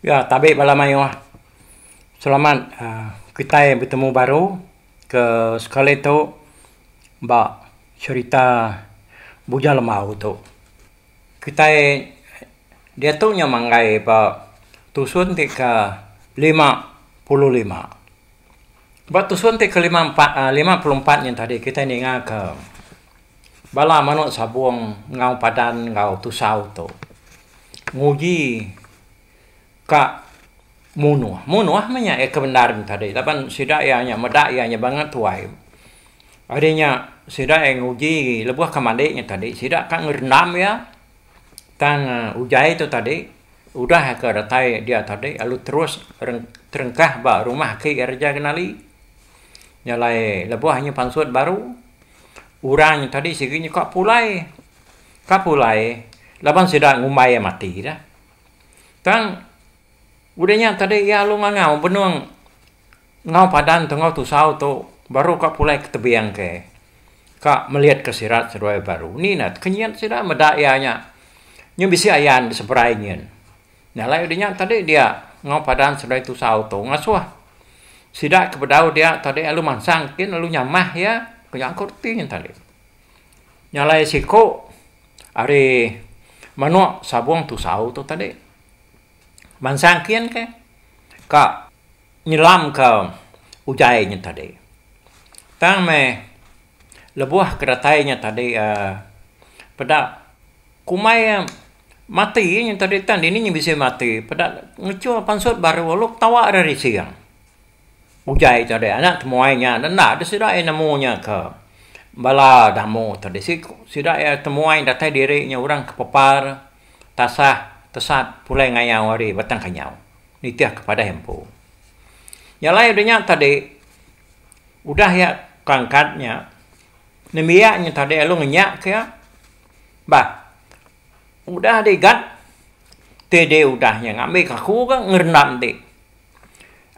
Ya tabe bala mayuh selamat aaa kitai betemu baru ke sekali tu ba serita Bujang Lemau tu. Kitai diatu nya manggai ba tusun ti ke lima puluh lima. Ba tusun ti ke lima empat, lima puluh empat nya tadi kitai ninga ke Bala manuk sabung enggau padan enggau tusau tu nguji ka munuh. Munuh meh nya iya ke bendar nya tadi laban sida iya nya meda iya nya banga tuai. Ari nya sida iya nguji lebuh ke madi nya tadi sida ka ngerendam iya tang utai tu tadi udah ke datai dia tadi lalu terus terengkah ba rumah aki iya reja kenali. Nya alai lebuh nya pansut baru. Orang nya tadi sigi nya ka pulai, ka pulai laban sida ngumbai iya mati dah. Tang udah nya tadi iya alu ngangau benung enggau padan tu enggau tusau tu baru ka pulai ke tebing ke, ka melitka sirat seduai baru. Ni nah kenyit sida meda iya nya, nya bisi ayan diseberai nyin. Nya alai udah nya tadi dia enggau padan sebelah tusa auto ngasuh sida ke bedau dia tadi lalu mansang kin lalu nyamah iya ku nya ko reti nya tadi. Nya alai siko ari manuk sabung tusau tu tadi mansang kin ke ka nyelam ka ujai nya tadi tang meh lebuh ke datai nya tadi um peda Kumbai iya, Mati iya nyentuk ditan, dini nya bisi mati. Peda ngechul pansut baru lalu ketawa ira risi iya. Uja itu deh anak temuai nya deh enda deh sida iya nemu nya ke bala damu tu deh siku sida iya temuai datai diri nya orang ke pepar tasah tesat pulai ngayau ari Batang Kanyau nitih ke padai empu. Nya alai udah nya tadi udah iya ke angkat nya nembiak nya tadi lalu ngenyak ke iya Bah. Udah dih Gat, ti dih udah nya ngambika aku ga ngerendam dih.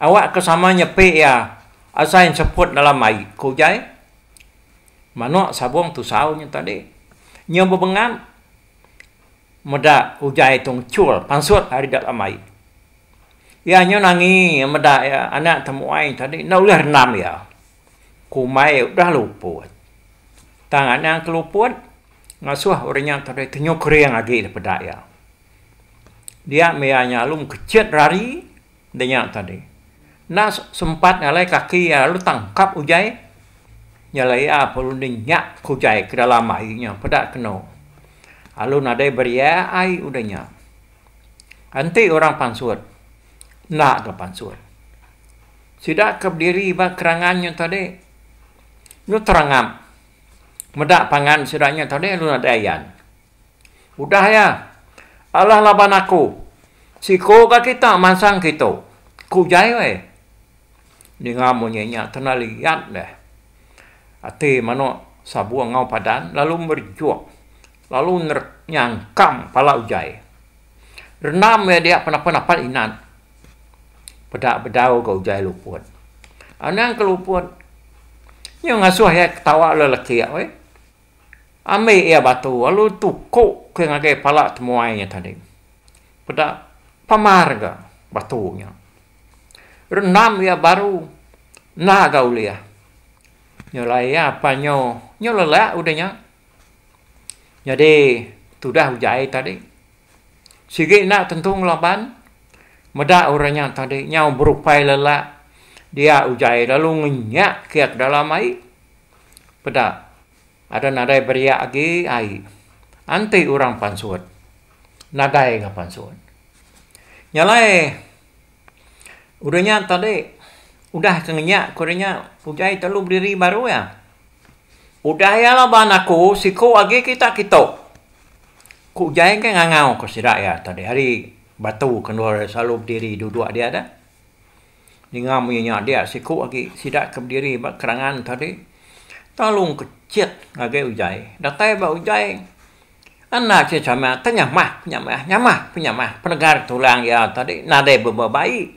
Awak ke sama nyepi iya asai enseput dalam ai, ku Jai. Manuk sabung tusau nya tadi. Nya bebengan meda ujai tu ngechul pansut ari dalam ai. Iya nya nangi meda iya anak temuai tadi enda ulih rendam iya. Kumbai udah luput. Tang anang ke luput ngasuh orang nya tadai tenyuh kering agi da peda iya. Dia meh iya nyalum kechet rari da nya tadi. Enda sempat ngalai kaki iya lalu tangkap ujai nyala iya perlu nenyak ke ujai ke dalam ai nya peda keno lalu nadai beriak ai udah nya. Enti orang pansut, enda ke pansut. Sida ke bediri ba kerangan nya tadi, lu terangap meda pangan sida nya tadi lu nadai ayan. Udah iya, alah laban aku, siko ga kita mansang kitu, ku jai weh. Ninga munyi nya kena liat deh. Ati manuk sabung enggau padan lalu merejuk Lalu neret nyangkang pala ujai. Renam iya dia penapa napat inan. Peda bedau ga ujai luput. Anang ke luput. Nyu ngasuh iya ketawa le lekik weh. Ambi iya batu lalu tuku ke ngagai pala temuai nya tadi. Peda pamar ga batu nya. Renam iya baru na ga ulih. Nyu laie apan nyu, nyu lelak udah nya. Nyadi tudah uja ai tadi sigi enda tentu ngelaban meda orang nya tadi nyau berupai lelak dia uja ai lalu ngenyak ke dalam ai peda ada nadai beriak agi ai enti orang pansut nadai ga pansut nya alai udah nya tadi udah ke ngenyak ke udah nya uja ai telu bediri baru iya. Udah iya laban aku, siku agi kita kitu. Ku Jai enggai ngangau ka sida iya tadi hari batu ke endur iya selalu bediri duduk dia tu. Ninga munyi nya dia siku agi sida ke bediri ba kerangan tadi talung kecit ngagai Ujai. Datai ba Ujai enda cheh chamah teh nyamah penyamah nyamah penyamah penegar tulang iya tadi nadai bebau bai.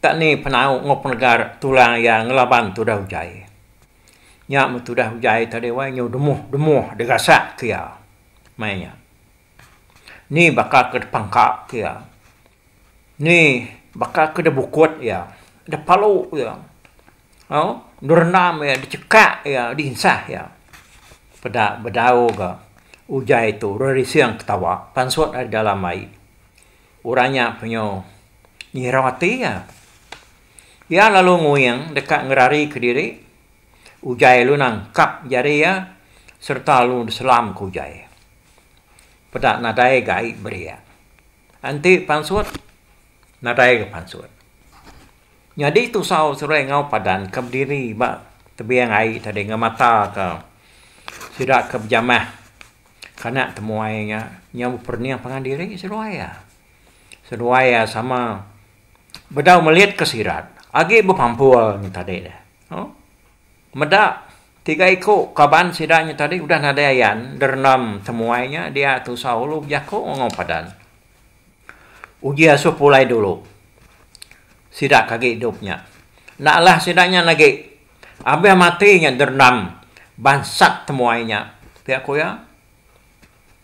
Ka ni penau enggau penegar tulang iya ngelaban tudah ujai. Nya meh tudah ujai tadi wai nyau demuh-demuh degasak ke iya. Maya nya. Ni baka ke depangkap ke iya. Ni baka ke debukut iya, depalu iya. Au, derendam iya, dechekak iya, dinsah iya. Peda bedau ga ujai tu rerising ketawa pansut ari dalam ai. Orang nya penyu ngirau ati iya. Iya lalu nguing deka ngerari kediri. Ujai lalu nangkap jari iya sereta lalu diselam ke ujai. Peda nadai ga ai berik. Enti pansut, nadai ga pansut. Nyadi tusau seruai enggau padan ke bediri ba tebing ai tadi enggau mata ke sida ke bejamah. Kana temuai nya, nya beperening pangan diri seduai iya. Seduai iya sama bedau melitka sirat agi bepampul nya tadi ne. Meda tiga iku kaban sida nya tadi udah nadai ayan derenam temuai nya dia tusah ulu bejaku enggau padan. Uji asuh pulai dulu sida ke agi idup nya. Enda alah sida nya agi Abah Matri nya derendam bansat temuai nya, pia ku iya.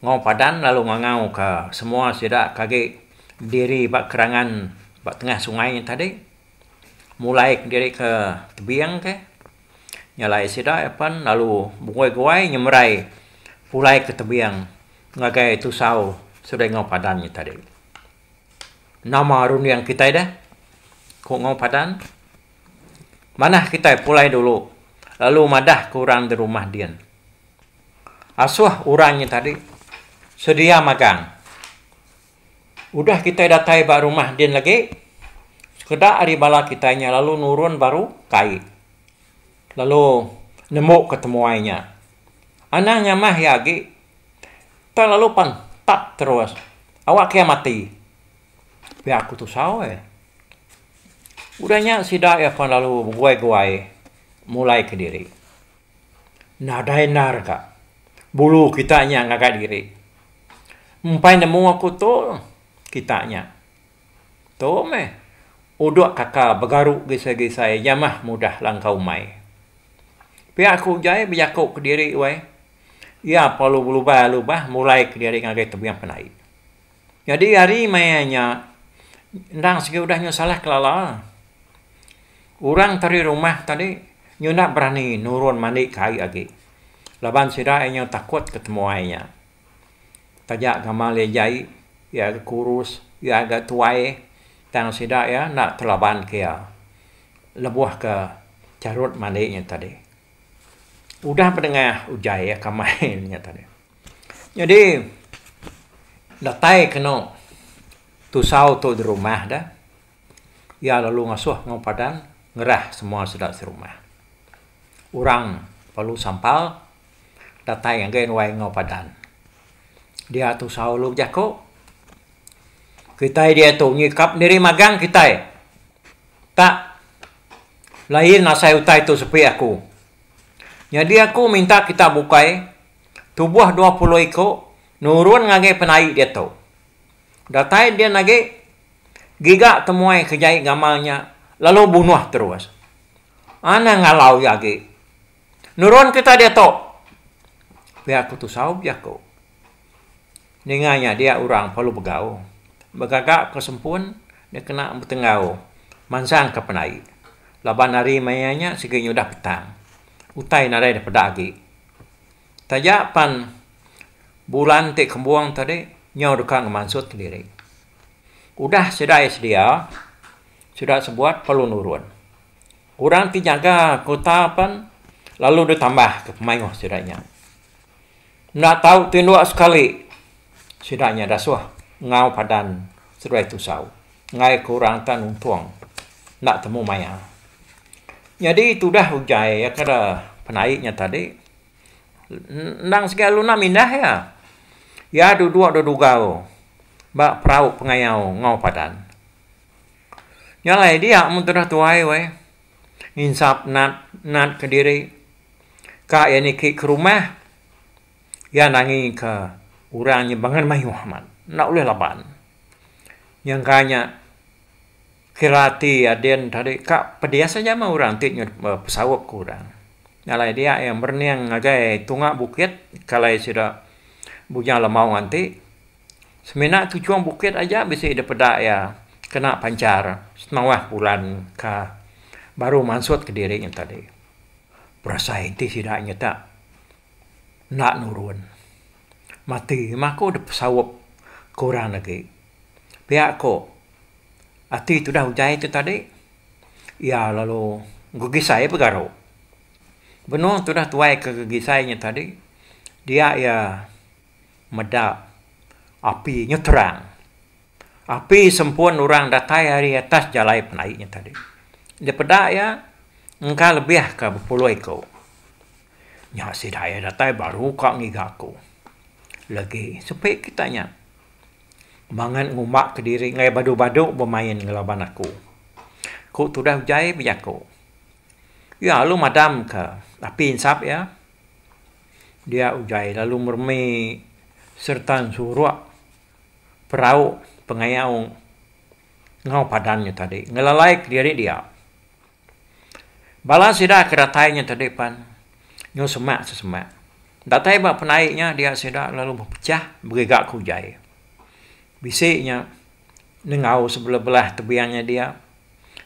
Ngau Padan lalu ngangauka semua sida ke agi bediri ba kerangan ba tengah sungai nya tadi mulai kediri ke tebing ke nya alai sida iya pen lalu beguai-guai nyemerai pulai ke tebing ngagai tusau seduai Ngau Padan nya tadi. Nama runding kitai deh? ku Ngau Padan. Manah kitai pulai dulu lalu madah ke orang di rumah din. Asuh orang nya tadi sedia magang. Udah kitai datai ba rumah din lagi, sekeda ari bala kitai nya lalu nurun baru kai lalu nembuka temuai nya. Anang nyamah iya agi tang lalu pan tap terus. Awak kiya mati. Pia ku tusau eh. Udah nya sida iya pan lalu beguai-guai mulai ke diri. Nadai endar ka bulu kita nya ngagai diri. Empai nemu aku tu kita nya. Tu meh udok kaka begaru gisai-gisai iya mah mudah langkau umai. Pia aku jai bejaku ke diri wai iya perlu belubah-lubah mulai ke diri ngagai tebing penai. Nyadi ari maya nya endang sigi udah nyusalah kelala orang tadi rumah tadi nyu enda berani nurun mandi ke ai agi laban sida iya nyu takut ke temuai nya taja gamal iya jai iya ga kurus iya ga tuai tang sida iya enda telaban ke iya lebuh ke charut mandi nya tadi udah pedengah ujai iya ke amai nya tadi. Nyadi datai kenu tusau tu dirumah da iya lalu ngasuh enggau padan ngerah semua sida serumah. Orang perlu sampal datai ngagai ruai enggau padan. Dia tusau lalu bejaku kitai diatu nyikap diri magang kitai tak lain asai utai tu sepi aku. Nyadi aku minta kita bukai tubuh dua puluh iku nurun ngagai penai diatu. Datai din agi, giga temuai ke jai gamal nya lalu bunuh terus. Anang ngalau iya agi. Nurun kita diatu! Pia aku tusau bejaku. Ninga nya dia orang Palu Begau begaga ke sempun dia kena betenggau mansangka penai laban hari maya nya sigi nyudah petang. Utai nadai da peda agi. Taja pan bulan ti kembung tadi nyau deka ngemansut diri. Udah sida iya sedia, sida sebuat perlu nurun. Orang ti nyaga kota pan lalu deh tambah ke mayuh sida nya. Enda tau tinduk sekali sida nya dasuh enggau padan seduai tusau. enggai ke orang enda nuntong enda temu maya nyadi tudah ugai iya kada penai nya tadi endang segi lalu enda mindah iya, iya dudok da dugau ba perau pengayau enggau padan nya alai dia mun tudah tuai weh nginsap nat kediri ka iya niki ke rumah. Iya nangika orang nya bangan mayuh amat, enda ulih laban. Nyangka nya kira ati Adin tadi ka pedis aja meh orang ti nyudah besaup ke orang. Alai dia iya merening ngagai tunga bukit ke alai sida bujang lemaung enti semina ke ujung bukit aja bisi dep peda iya kena panchar senawah bulan ka baru mansut kediri nya tadi. Berasai enti sida nyita Enda nurun. Mati memang aku dep saup ke orang agi. Pia ko ati tudah utai tu tadi iya lalu begisai pegaru. Benung tudah tuai ke begisai nya tadi dia iya meda api nyeterang. Api sempun orang datai ari atas jalai penai nya tadi. Daripada iya engka lebih ka bepuloi ko. Nya sida iya datai baru ka ngiga aku. Legi sepi kita nya mangan ngumba kediri ngagai badu-badu bemain enggau laban aku. Ku tudah ujai bejaku. Iya lalu madam ka api ensap iya. Dia ujai lalu meremi sereta nsurak perau pengayau enggau padan nya tadi ngelalai kediri dia. Bala sida ke datai nya tadi pan nyau semak sesemak. Datai ba penai nya dia sida lalu bepechah begiga ke ujai. Bisi nya nengau sebelah-belah tebian nya dia.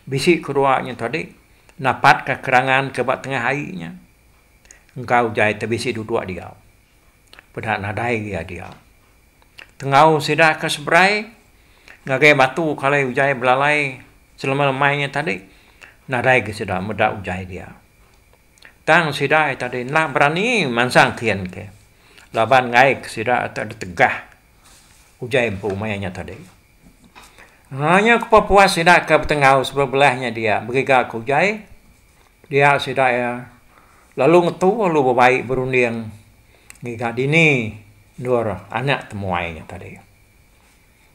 Bisi kedua nya tadi napatka kerangan ke ba tengah ai nya engka ujai te bisi duduk diau. peda nadai gia dia. Tenggau sida ke seberai ngagai batu ke alai ujai belalai selema-lema nya tadi nadai ga sida meda ujai dia. Tang sida tadi enda berani mansang kin ke laban ngaik sida ti ditegah ujai empu maya nya tadi. Nya kepuas-puas sida ke betenggau sebelah-belah nya dia begegar ke ujai. Dia sida iya lalu ngetu lalu bebai berunding ngiga dini endur anak temuai nya tadi.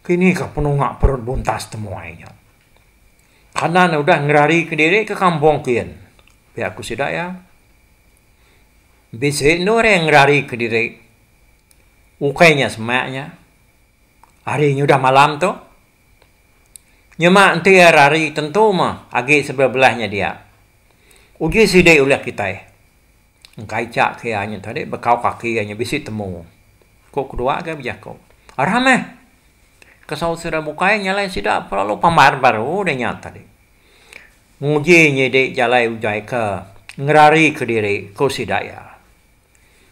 Kini ka penunga perut buntas temuai nya. Kanan ne udah ngerari kediri ke kampung kin, pia ku sida iya. Bisi endur iya ngerari kediri ukai nya semak nya. Hari nya udah malam tu. Nyema enti iya rari tentu mah agi sebelah-belah nya dia. Uji sidi ulih kitai. Engkaica ke iya nya tadi bekau kaki iya nya bisi temu, ku kedua ke bejaku. Aram meh! Kesaut sida bukai nyalai sida lalu pambar baru deh nya tadi. Nguji nyidi jalai ujaika ngerarika diri, ku sida iya.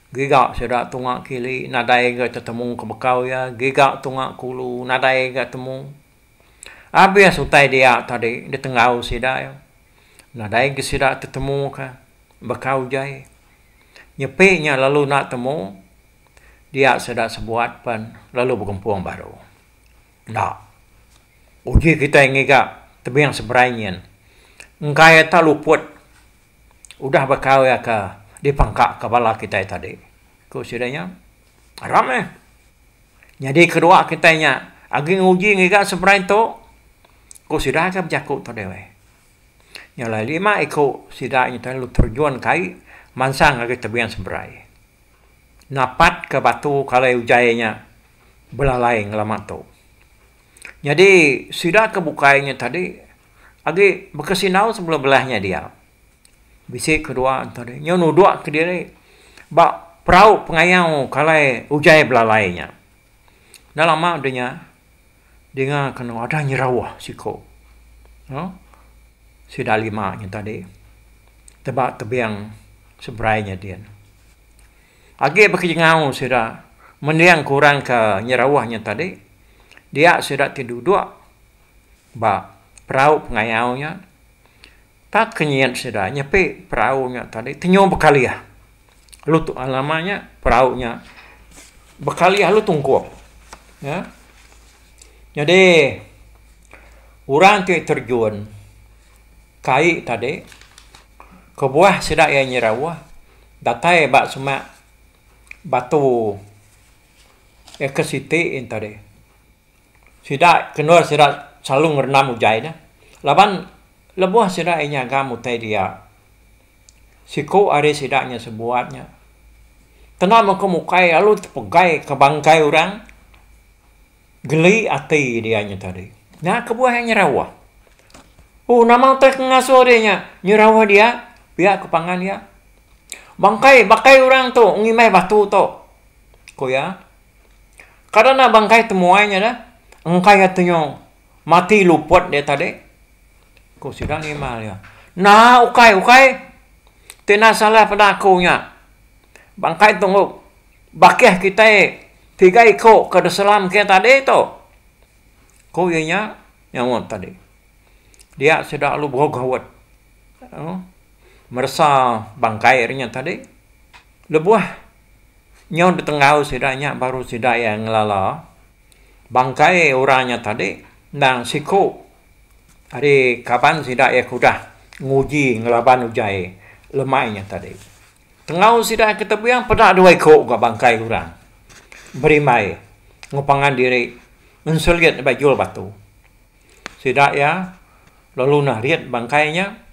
Giga sida tunga kili nadai ga tetemu ke bekau iya, giga tunga kulu nadai ga temu. Abis utai dia tadi ditenggau sida iya, nadai ga sida tetemu ka bekau jai. Nyepi nya lalu enda temu, dia sida sebuat pen lalu begempung baru. Enda. Uji kitai ngiga tebing seberai nyin, engkai atai luput. udah baka iya ke dipangkaka bala kitai tadi, ku sida nya. Aram meh. Nyadi kedua kitai nya agi nguji ngiga seberai tu, ku sida ke bejaku tadi ai. Nya alai lima iku sida nya tadi lalu terjun ke ai mansang ngagai tebing seberai. Napatka batu ke alai ujai nya belalai ngelama tu. Nyadi sida ke bukai nya tadi. agi baka sindau sebelum belah nya dia bisi kedua ento deh nyu nudok kediri ba perau pengayau kalai ujai belalai nya dah lama deh nya dinga kenu ada nyerauh siko aaa sida lima nya tadi teba tebing seberai nya din agi baka jengau sida mending kurang ka nyerauh nya tadi dia sida ti dudok ba perau pengayau nya, tak ke nyin sida nyepi perau nya tadi tenyu bekalih lu tu nama nya perau nya bekalih lu tungkup ye nyadi orang ti terjun kai tadi kebuah sida iya nyerauh datai ba semak batu eka siti tadi. Sida ke endur sida selalu ngerendam ujai nya laban lebuh sida ai nyaga mutai dia siku ari sida nya sebuat nya kena mengko mukai lalu tepegai ke bangkai orang geli ati dia nya tadi nya kebuah iya nyerawah oh nama utai ke ngasuh dia nya nyerawah dia pia ke pangan iya bangkai bangkai orang tu ngimbai batu tu ku iya. Kada enda bangkai temuai nya dah. Engka iya tu nyau mati luput dia tadi. Ku sida ngimal iya. Nah ukai, ukai. Ti enda salah peda aku nya. Bangkai tu engku bakih kitai tiga iku ke diselam kitai tadi tu. Ku iya nya nyaut tadi. Dia sida lalu bau gaut aaa meresa bangkai nya tadi. Lebuh. Nyau ditenggau sida nya baru sida iya ngelala bangkai orang nya tadi endang siku ari kaban sida iya ke udah nguji ngelaban ujai lemai nya tadi. Tenggau sida ke tebing peda dua iku ga bangkai orang berimbai ngepangan diri ngeselit ba jul batu. Sida iya lalu narit bangkai nya.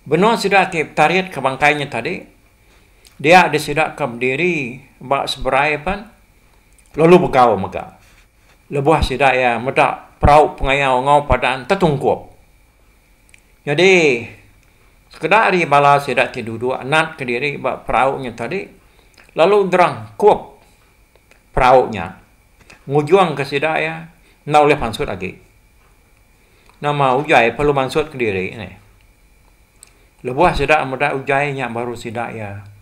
Benung sida ti petarit ke bangkai nya tadi dia deh sida ke bediri ba seberai pen lalu begau mega lebuh sida iya meda perau pengayau enggau padan tetungkup. Nyadi sekeda ari bala sida ti duduk nat kediri ba perau nya tadi lalu gerang kup perau nya ngujungka sida iya enda ulih mansut agi. Nama ujai perlu mansut kediri ne. Lebuh sida meda ujai nya baru sida iya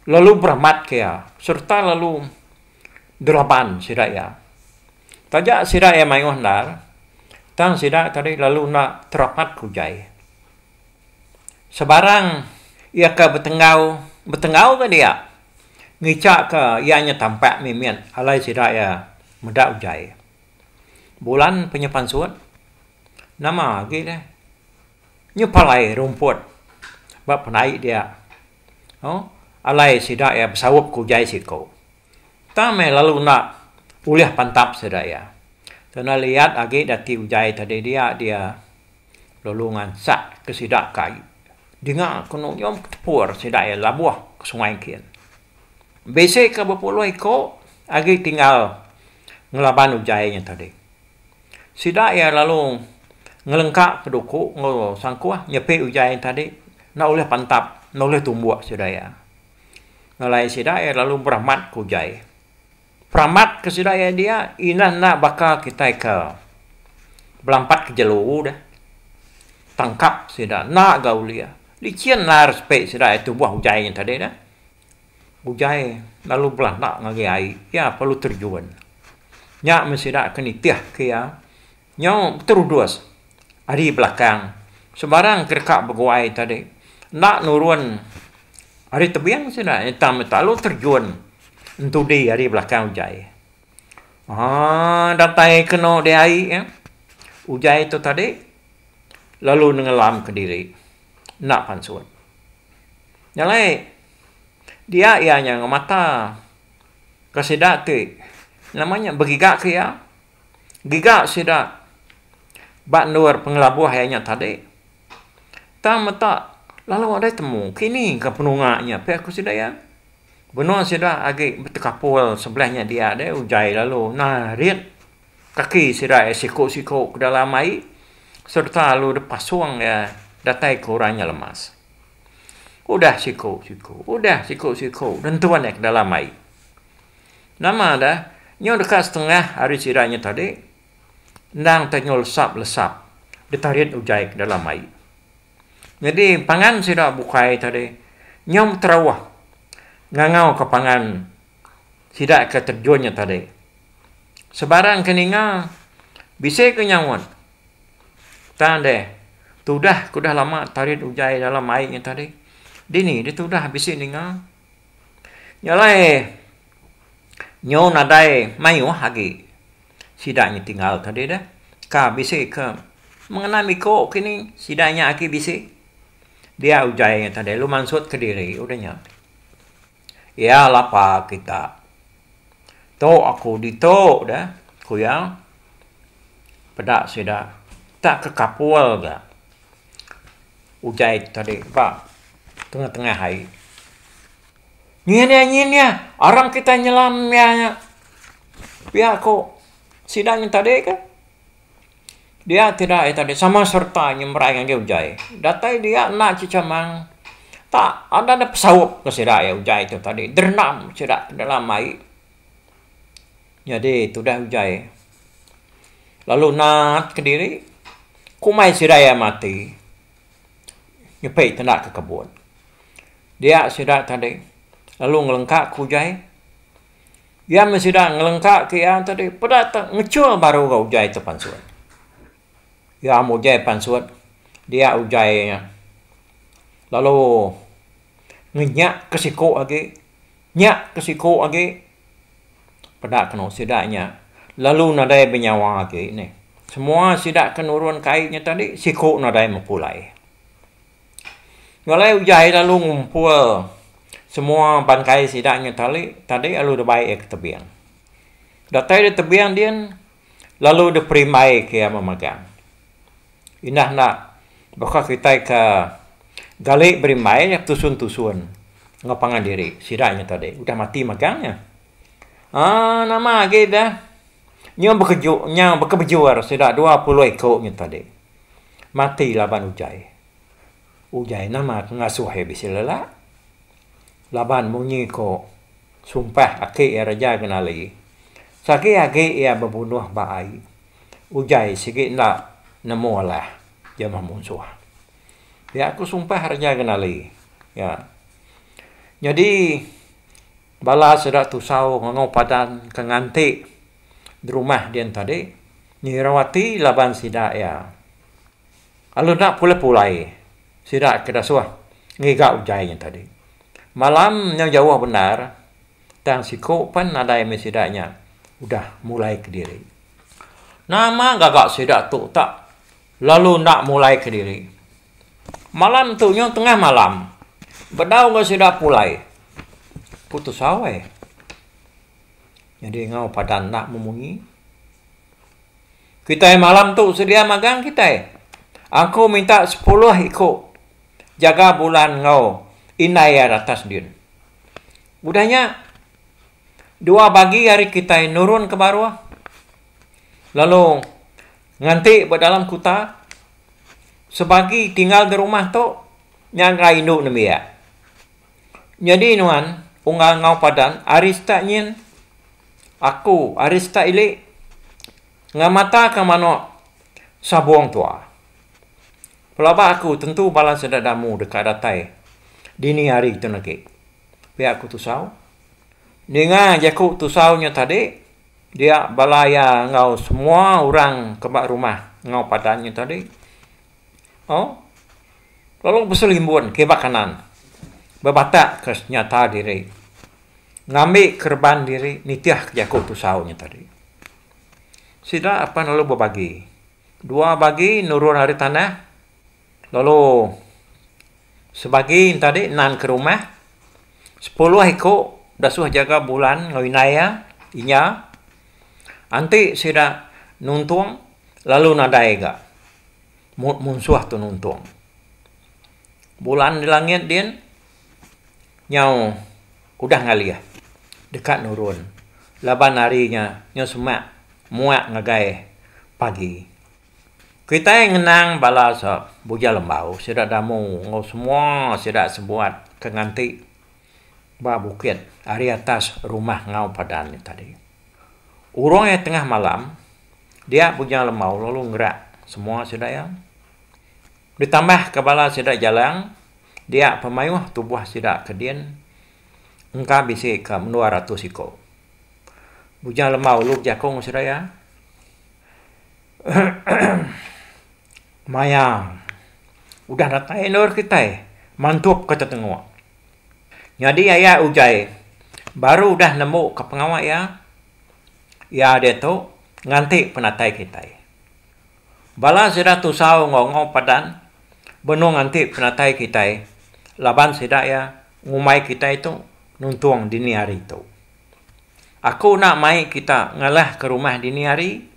lalu beramat ke iya sereta lalu geraban sida iya. Taja sida iya mayuh endar tang sida tadi lalu enda terapat ke ujai. Sebarang iya ke betenggau, betenggau ke dia ngichaka iya nya tampak mimit alai sida iya meda ujai. Bulan penyepansut, nama agi deh nyepalai rumput ba penai dia alai sida iya besaup ke ujai siko. Tang meh lalu enda ulih pantap sida iya. Kena liat agi dati ujai tadi dia dia lalu ngansak ke sida ka dinga ke nuyum ke tepur sida iya labuh ke sungai kin. Bisi ke bepuluh iko agi tinggal. ngelaban ujai nya tadi. Sida iya lalu ngelengka peduku enggau sangkuh nyepi ujai nya tadi enda ulih pantap, enda ulih tumbuk sida iya. Ngelai sida iya lalu beramat ke ujai. Peramat ke sida iya dia inah enda baka kitai ke belampat ke jelu deh tangkap sida enda ga ulih. Lichin lair sepi sida iya tubuh ujai nya tadi deh. Ugai lalu belanda ngagai ai iya perlu terjun nya meh sida ke nitih ke iya nyau beterudus ari belakang sebarang ke deka beguai tadi enda nurun ari tebing sida tang meh lalu terjun entudi ari belakang ugai aaa datai keno diai iya ugai tu tadi lalu nengelam kediri enda pansut. Nya alai dia iya nya ngemata ke sida ti nama nya begiga ke iya giga sida ba endur pengelabuh iya nya tadi tang meta lalu dei temu kini ka penunga nya pia ku sida iya. Benung sida agi betekapul sebelah nya dia deh ugai lalu narit kaki sida iya siku-siku ke dalam ai sereta lalu deh pasung iya datai ke orang nya lemas. Udah siku-siku udah siku-siku nentun iya ke dalam ai. Nama deh nyu deka setengah ari sida nya tadi endang teh nyu lesap-lesap ditarit ugai ke dalam ai. Nyadi pangan sida bukai tadi nyau beterauh ngangau ka pangan sida ke terjun nya tadi. Sebarang ke ninga bisi ke nyaut tang deh tudah ke udah lama tarit ujai dalam ai nya tadi dini deh tudah bisi ninga. Nya alai nyau nadai mayuh agi sida nya tinggal tadi deh ka bisi ke mengena miko kini sida nya agi bisi dia utai nya tadi lu mansut kediri udah nya iya lapa kita tu aku ditu deh ku iya peda sida tak ke kapul ga. Utai tu tadi ba tengah-tengah hari. Nyin iya nyin iya arang kitai nyelam iya nya pia ko sida nyin tadi ke dia ti da iya tadi sama sereta nyemerai ngagai utai. Datai dia enda chichamang tak ada da pesaup ngan sida iya utai tu tadi derendam sida dalam ai Nyadi tudah uJai lalu naat kediri kumai sida iya mati nyepi tenda ke kebun dia sida tadi lalu ngelengka ke uJai iya meh sida ngelengka ke iya tadi peda te ngechul baru enggau uJai te pansut iya meh uJai pansut dia uJai lalu ngenyak ke siko agi. Nya ke siku agi peda kenu sida nya lalu nadai benyawa agi neh. Semua sida ke nurun ke ai nya tadi siku nadai mepulai. Nya alai ujaie lalu ngumpul semua bangkai sida nya tali tadi lalu debai ia ke tebing. Datai ia tebing din. lalu diperimbai ke iya memagang. Indah enda baka kitai ke gali berimbai nya betusun-tusun enggau pangan diri. Sida nya tadi udah mati magang nya. Aaa nama agi da nyau bekeju nyau bekebejur sida dua puluh iku nya tadi mati laban utai. Utai nama ke ngasuh iya bisi lelak? Laban munyi ko sumpah aki iya Raja Genali, Sagi agi iya bebunuh ba ai, ujai sigi enda nemu alah jemah munsuh. Pia ko sumpah Raja Genali. Nya nyadi bala sida tusau ngangau padan ke nganti derumah dian tadi, ngirau ati laban sida iya. Lalu enda pulai-pulai sida ke dasuh ngiga utai nya tadi. Malam nyau jauh bendar tang siku pen nadai mih sida nya udah mulai kediri. Nama gaga sida tu tak lalu enda mulai kediri. Malam tu nyau tengah malam bedau enggau sida pulai putus awai. Nyadi enggau padan enda memunyi. Kitai malam tu sedia magang kitai. Aku minta sepuluh iku jaga bulan enggau indai iya ratas din. Udah nya dua bagi ari kitai nurun ke baruh lalu nganti ba dalam kuta. Sebagi tinggal di rumah tu nyaga indu nembiak. Nyadi nuan, unggal enggau padan ari sitak nyin, Aku ari sitak ili, ngamataka manuk sabung tua. Pelaba Aku tentu bala sedadamu deka datai dini hari tun agi, pia Aku tusau. Ninga Jaku tusau nya tadi, dia bala iya enggau semua orang ke ba rumah enggau padan nya tadi. O. Lalu Besu Limbun kiba kanan bebatak ke senyata diri ngambi kereban diri nitih ke jaku tusau nya tadi. Sida apan lalu bebagi dua bagi nurun ari tanah lalu sebagi nya tadi nan ke rumah sepuluh iku dasuh jaga bulan enggau indai iya inya enti sida nuntung lalu nadai ga. mut munsuh tu nuntung. Bulan di langit din nyau udah ngalih deka nurun laban hari nya nyau semak muak ngagai pagi. Kitai ngenang bala bujang lembau sida damu enggau semua sida sebuat ke nganti Ba bukit ari atas rumah enggau padan nya tadi. Urung iya tengah malam, dia Bujang Lemau lalu ngerak semua sida iya. Ditambahka bala sida Jalang, dia pemayuh tubuh sida ke din engka bisi ke mendua ratus iku. Bujang Lemau lalu bejaku enggau sida iya, Maya udah datai endor kitai, mantup ke tetengok. Nyadi aya ugai baru udah nemu ka pengawa iya, iya diatu nganti penatai kitai. Bala sida tusau enggau enggau padan benung nganti penatai kitai laban sida iya ngumbai kitai tu nuntung dini hari tu. Aku enda mai kita ngalah ka rumah dini hari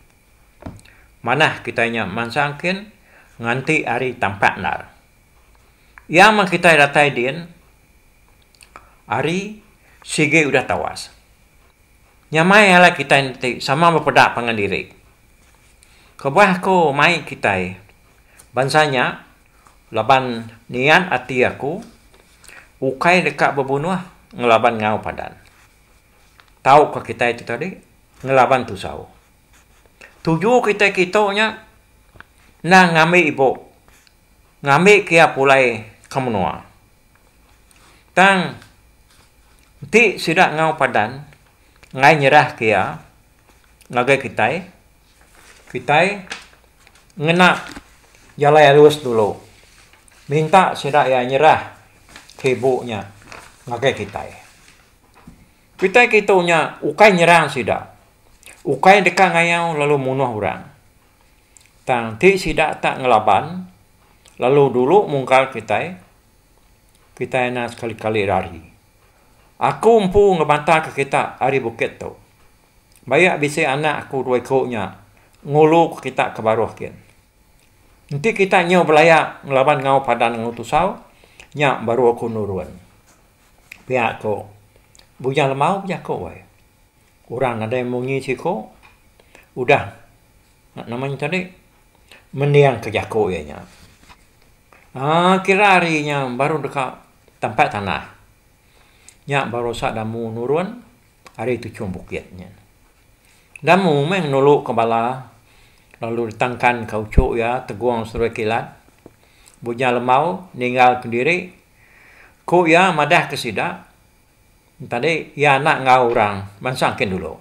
manah kitai nya mansang kin nganti hari tampat endar. Iya meh kitai datai din ari sigi udah tawas. Nyamai alai kitai enti sama bepeda pangan diri. Kebuah aku mai kitai bansa nya laban niat ati aku ukai deka bebunuh ngelaban enggau padan. Tauka kitai tu tadi ngelaban tusau. Tuju kitai kitu nya enda ngambi ibu. Ngambi kia pulai ke menua. Tang enti sida enggau padan ngai nyerah kia ngagai kitai, kitai ngena jalai alus dulu minta sida iya nyerah ke ibu nya ngagai kitai. Kitai kitu nya ukai nyerang sida, ukai deka ngayau lalu munuh orang. Tang ti sida tak ngelaban lalu dulu mungkar kitai, kitai enda sekali-kali rari. Aku empu ngemataka kita ari bukit tu. Bayak bisi anak aku dua iku nya ngulu ku kita ke baruh gin. Enti kita nyau belaya ngelaban enggau padan enggau tusau, nya baru aku nurun. Pia ko Bujang Lemau bejaku ai. Orang nadai munyi siku, udah nya nama nya tadi mendingka jaku iya nya. Aaa kira hari nya baru deka tampat tanah. Nya baru usak damu nurun ari tuchum bukit nya. Damu meh nuluka bala lalu ditangkanka uchu iya tegung serumah kilat. Bujang lemau ninggal kendiri. Ku iya madahka sida. Tadi iya anak enggau orang bansa engkin dulu.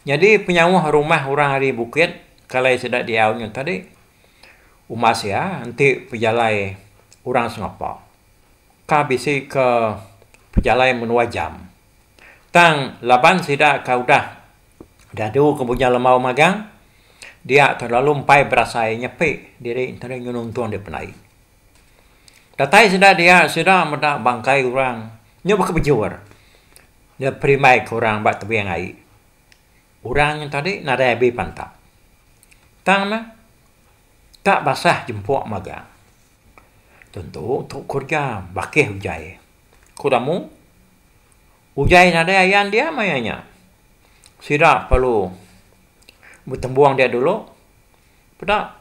Nyadi penyauh rumah orang ari bukit kalai sida diau nya tadi umbas iya enti pejalai orang sengapa. Ka bisi ke pejalai menua jam. Tang laban sida ka udah diadu ke bunya lembau magang dia ka lalu empai berasai nyepi diri enti nuntun dia penai. Datai sida dia sida meda bangkai orang nya baka bejur dia perimbai ke orang ba tebing ai. Orang nya tadi nadai abi pantap. Tang neh ka basah jempuk magang. Tentu tu kereja bakih ujaie. Ku tamu ujaie nadai ayan dia maya nya. Sida perlu betembung dia dulu peda.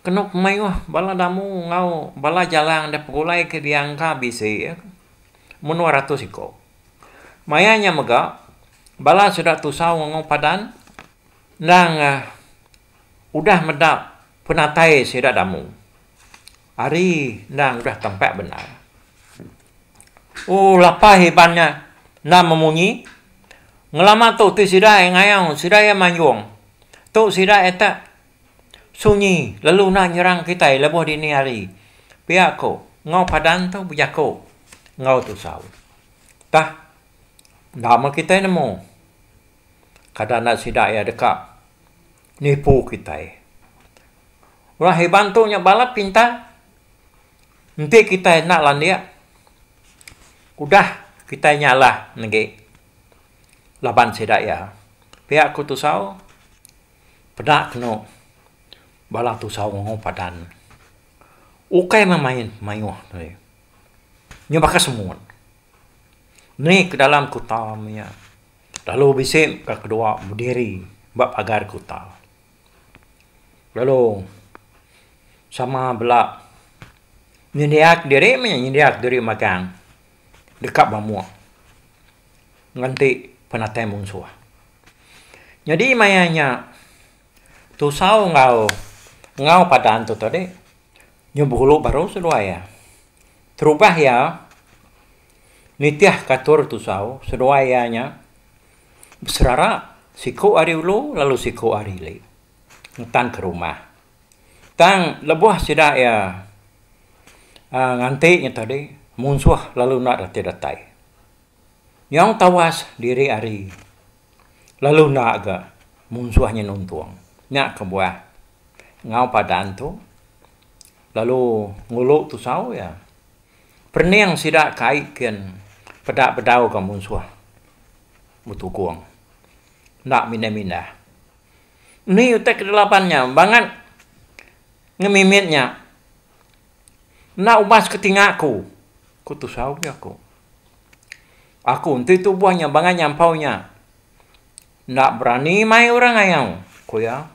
Kenu kemayuh bala damu enggau bala jalang da pegulai ke diangka bisi menua ratus iku. Maya nya mega, bala sida tusau ngengu padan endang udah meda penatai sida damu ari endang udah tempa bendar. Ooh lapai iban nya enda memunyi, ngelama tu ti sida ngayau, sida iya manjung. Tu sida iya tak Sunyi lalu enda nyerang kitai lebuh dini hari, pia ko enggau padan tu bejako enggau tusau. Tah enda meh kitai nemu kada enda sida iya deka nipu kitai. Orang Iban tu nya balat pintar, enti kitai enda landik udah kitai nya alah negi laban sida iya. Pia ko tusau. Peda kenu bala tusau nguau padan ukai meh main mayuh deh. Nya baka semut. Mih ke dalam kuta mia lalu bisi ka kedua bediri ba pagar kuta. Lalu sama bala nyendiak diri meh nyendiak diri magang deka bamuk. ngenti penatai munsuh. Nyadi maya nya tusau enggau enggau padan tu tadi nyebulu baru seduai iya. Terubah iya nitih ke atur tusau seduai iya nya beserara siku ari ulu lalu siku ari ili ngetan ke rumah. Tang lebuh sida iya nganti nya tadi, munsuh lalu enda reti datai. Nyau tawas diri ari lalu enda ga munsuh nya nuntung. Nya kebuah enggau padan tu lalu ngulu tusau iya. Perening sida kai kin peda bedau ga munsuh betugong. Enda mindah-mindah. Enti utai kedelapan nya bangat ngemimit nya enda ubas ke tinga aku, ku tusau aja aku. Aku enti tubuh nya bangat nyampau nya enda berani mai orang ayau, ku iya.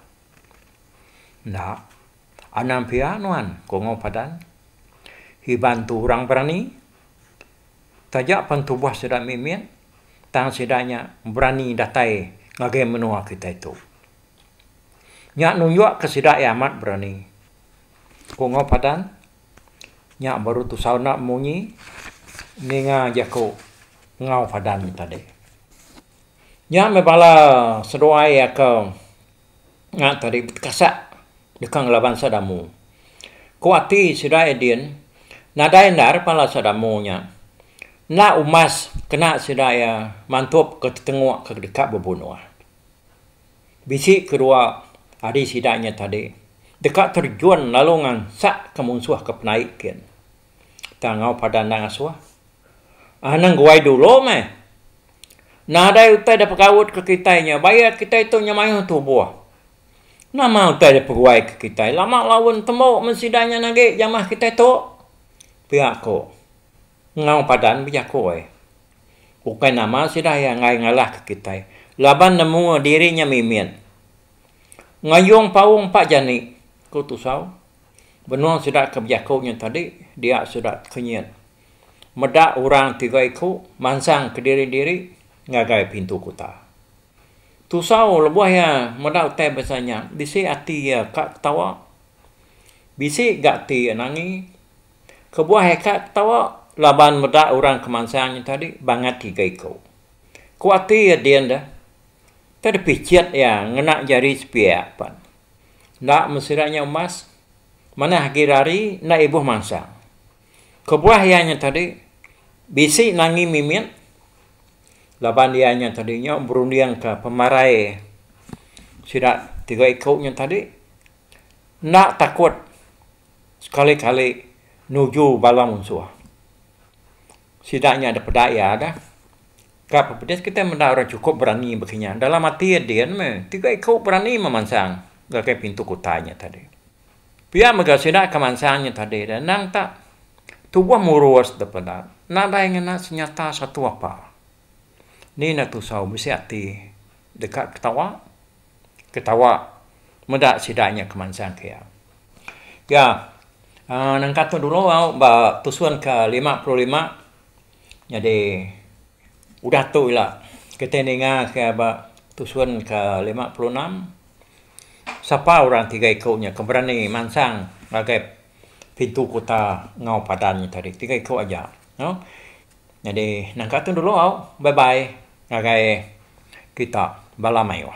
Enda, anang pia nuan, ku Ongol Padan. Iban tu orang berani taja pen tubuh sida mimit. tang sida nya berani datai ngagai menua kitai tu. Nya nunjukka sida iya amat berani, ku Enggau Padang. Nya baru tusau enda munyi ninga jaku Enggau Padang tadi. Nya meh bala seduai iya ke. Ngak tadi betekasak deka ngela bansa Damu. Ku ati sida Edin, nadai enda repala sa Damu nya. Enda umas kena sida iya mantup ke tetengok ke deka bebunoh. Bisi ke dua adi sida nya tadi deka terjun lalu ngansak ke munsuh ke penai kin. Tang enggau padan enda ngasoh. Anang guai dulo meh. Nadai utai da pegautka kitai nya bayak kitai tu nya mayuh tubuh. Nama utai da peguaika kitai lama laun tembu men sida nya agi jamah kitai tu? Pia ku enggau padan bejaku ai. Ukai nama sida iya enggai ngalahka kitai laban nemu diri nya mimit. Ngayung paung empa jani, ku Tusau. Benung sida ke bejaku nya tadi dia sida tekenyit. Meda orang tiga iku mansang kediri-diri ngagai pintu kuta. Tusau lebuh iya meda utai bansa nya, bisi ati iya ka ketawa, bisi ga ati iya nangi. Kebuah iya ka ketawa laban meda orang ke mansang nya tadi bangat tiga iku. Ku ati iya din deh, enti dipichet iya ngena jari sepiak pan. Enda mesira nya umas, manah agi rari enda ibuh mansang. Kebuah iya nya tadi, bisi Nangi Mimit laban iya nya tadi nya berundingka pemarai sida tiga iku nya tadi enda takut sekali-kali nuju bala munsuh. Sida nya dek peda iya dah. Ka bepedis kitai meda orang chukup berani baka nya. Dalam ati iya din meh, tiga iku berani memansang ngagai pintu kutai nya tadi. Pia mega sida ke mansang nya tadi deh endang tak tubuh murus dep enda nadai ngena senyata satu apa. Ni enda tusau bisi ati deka ketawa ketawa meda sida nya ke mansang ke iya. Pia aaa nangka tu dulu au ba tusun ke lima puluh lima nyadi udah tu ila kitai ninga ke ba tusun ke lima puluh enam. Sapa orang tiga iku nya ke berani mansang ngagai pintu kuta enggau padan nya tadi. Tiga iku aja. Nyadi nangka tu dulu au bye bye ngagai kita bala mayuh.